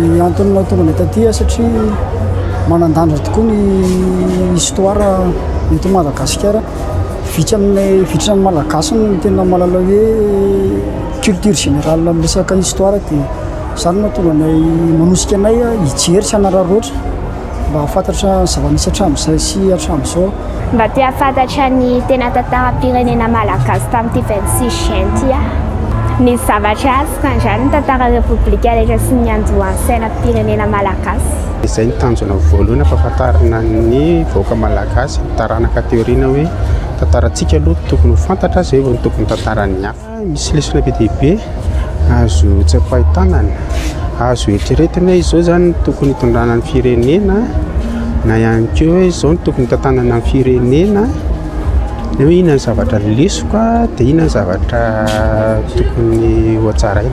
Ny antony mahatonga anay taty satria manan-danja tokoa ny histoire eto Madagasikara. Vitsy aminay vitsy amin'ny Malagasy no tena mahalala hoe culture générale amin'ny resaka histoire dia Izany no mahatonga anay manosika anay hijery sy hanararaotra mba hahafantatra ny zava-misy hatramin'izay sy hatramin'izao. Mba te hahafantatra ny tena tantaram-pirenena malagasy tamin'ity vingt-six juin ity aho. Nisy zavatra azoko andrany ny tantaran'ny Repoblika rehetra sy ny niandohan'ny sainam-pirenena malagasy. Izay no tanjona voalohany hampahafantarina ny vahoaka malagasy, ny taranaka aty aoriana hoe tantarantsika aloha tokony ho fantatra, izay vao no tokony tantaran'ny hafa. Misy lesona be dia be azo tsapain-tanana, azo eritreretina hoe izao izany no tokony hitondrana ny firenena na ihany koa hoe izao no tokony hitantanana ny firenena, na hoe inona ny zavatra lesona dia inona ny zavatra tokony hotsaraina.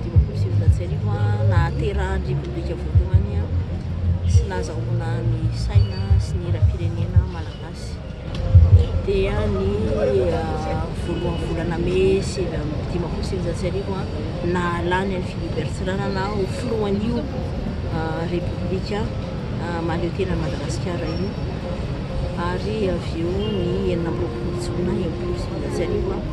dimampolo sy sivinjato sy arivo nahaterahan'ny Repoblika voalohany sy nahazahoana ny saina sy ny hiram-pirenena malagasy dia ny ah, voalohany volana mey sivy amby dimampolo sy sivinjato sy arivo nahalany an'i Philibert Tsiranana ho filohan'io ah, Repoblika ah, mahaleo tena an'i Madagasikara io ary avy eo ny enina amby roapolo jona enimpolo sy sivinjato sy arivo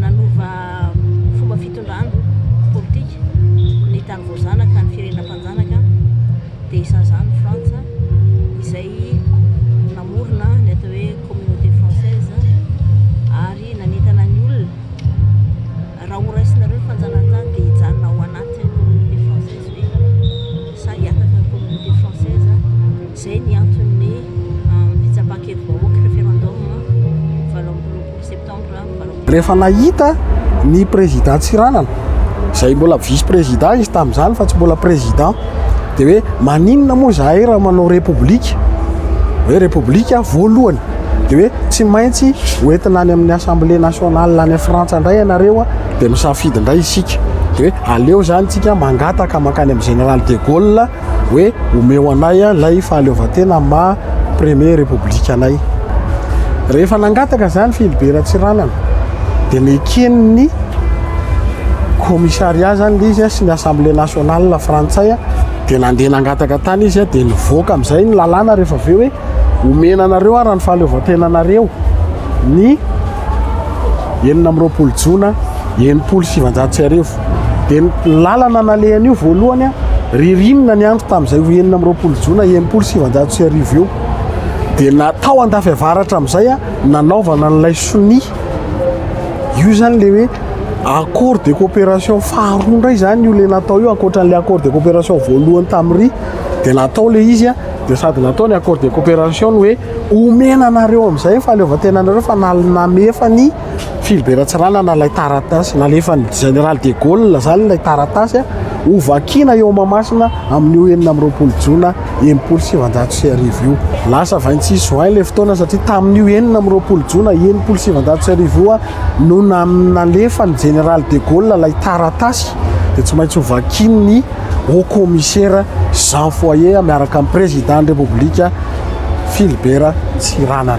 nanova fomba fitondrana politika ny tany voazanaka ny firenena mpanjanaka dia isan'izany ny Frantsa izay namorona ny atao hoe communauté française ary nanentana ny olona raha horaisinareo ny fanjanahantany dia hijanona ao anatin'ny communauté française ve sa hiataka ny communauté française izay ny anton'ny fitsapan-kevi-bahoaka referendum valo amby roapolo septambra Rehefa nahita ny président Tsiranana izay mbola vice président izy tamin'izany fa tsy mbola président dia hoe maninona moa izahay raha manao république hoe république voalohany dia hoe tsy maintsy hoentina any amin'ny assemblée nationale any Frantsa indray ianareo dia misafidy indray isika dia hoe aleo izany tsika mangataka mankany amin'ny général de Gaulle hoe omeo anay ilay fahaleovantena maha premier république anay. Rehefa nangataka izany Filibe Ratsiranana dia neken'ny commissariat izany ilay izy sy ny assemblée nationale frantsay dia nandeha nangataka tany izy dia nivoaka amin'izay ny lalàna rehefa avy eo hoe omena anareo ara ny fahaleovantenanareo ny enina amby roapolo jona enimpolo sy sivanjato sy arivo. Dia ny lalana nalehany io voalohany a, ririnina ny andro tamin'izay ho enina amby roapolo jona enimpolo sy sivinjato sy arivo eo. Dia na tao andafy avaratra amin'izay a, nanaovana an'ilay sonia. Io izany ilay hoe accord de coopération faharoa indray izany io ilay natao io ankoatran'ilay accord de coopération voalohany tamin'ry dia natao ilay izy a, dia sady natao ny accord de coopération ny hoe omena anareo amin'izay ny fahaleovantenanareo fa namefa ny filiberan-tsiranana ilay taratasy, nalefan'ny Général de Gaulle izany ilay taratasy ho vakina eo Mahamasina amin'io enina amby roapolo jona enimpolo sy sivanjato sy arivo io. Lasa vingt-six juin ilay fotoana satria tamin'io enina amby roapolo jona enimpolo sy sivanjato sy arivo io no nalefan'ny Général de Gaulle ilay taratasy dia tsy maintsy ho vakin'ny Haut Commissaire Jean Foyer miaraka amin'ny Président-n'ny République Philibert Tsiranana.